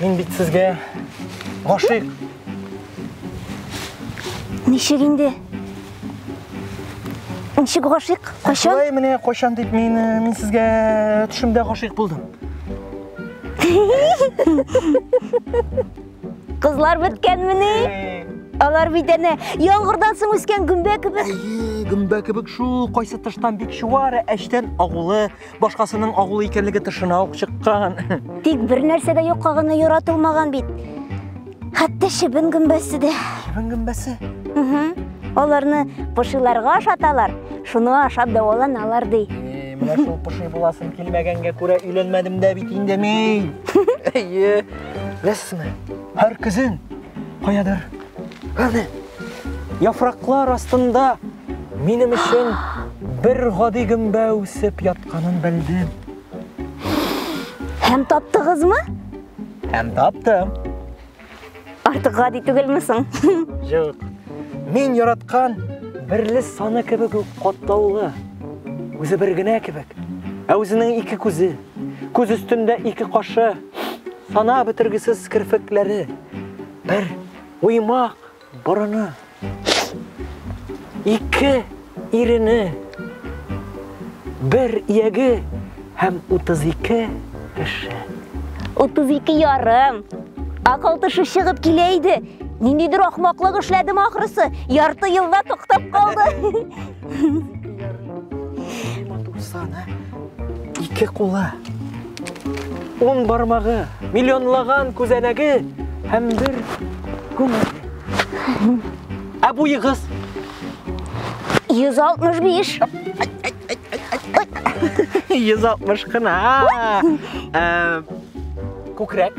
Мин бит сезгә гашыйк. Ничек инде? Ничек гашыйк? Кайчан? Шулай менә кайчан дип мин мин сезгә төшемдә гашыйк булдым. Кызлар беткәнмени? Алар бит әнә яңгырдан соң үскән гөмбә кебек. Әйе, гөмбә кебек шул, кайсы тыштан бик чуар, әчтән агулы, Башкасының агулы икәнлеге тышына ук чыккан. Тик бер нәрсә дә юкка гына яратылмаган бит. Хәтта шебен гөмбәсе дә. Шебен гөмбәсе? Угу. Аларны пошиларга ашаталар, шуны ашап дәваланалар ди. Менә шул поши буласым килмәгәнгә күрә өйләнмәдем дә бит инде мин. Әйе. Беләсезме, һәр көзен каядыр Әнә, яфраклар астында минем өчен бер гади гөмбә үсеп ятканын белдем. Һәм таптыгызмы? Һәм таптым. Артык гади түгелме соң? Юк. Мин яраткан берле саны кебек үк катлаулы. Үзе бер генә кебек. Ә үзенең ике күзе, күз өстендә ике кашы, сана бетергесез керфекләре, Бер уймак борыны. Ике ирене. Бер ияге һәм 32 кеше. 32 ярым. Акыл тышы чыгып килә иде. Ниндидер ахмаклык эшләдем ахрысы. Ярты елда туктап калды. Ике кулы Ун бармагы, миллионлаган күзәнәге һәм бер күңеле. Ә буегыз? 165. 160 кына. Ә, күкрәк?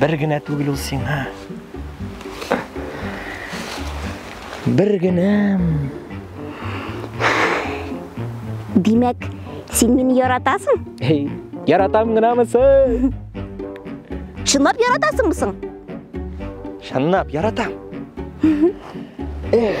Бер генә түгел ул сиңа. Бер генәм. Димәк, син мине яратасың? Эй, яратам гынамы соң? Чынлап яратасыңмы соң? Чынлап яратам. Эх.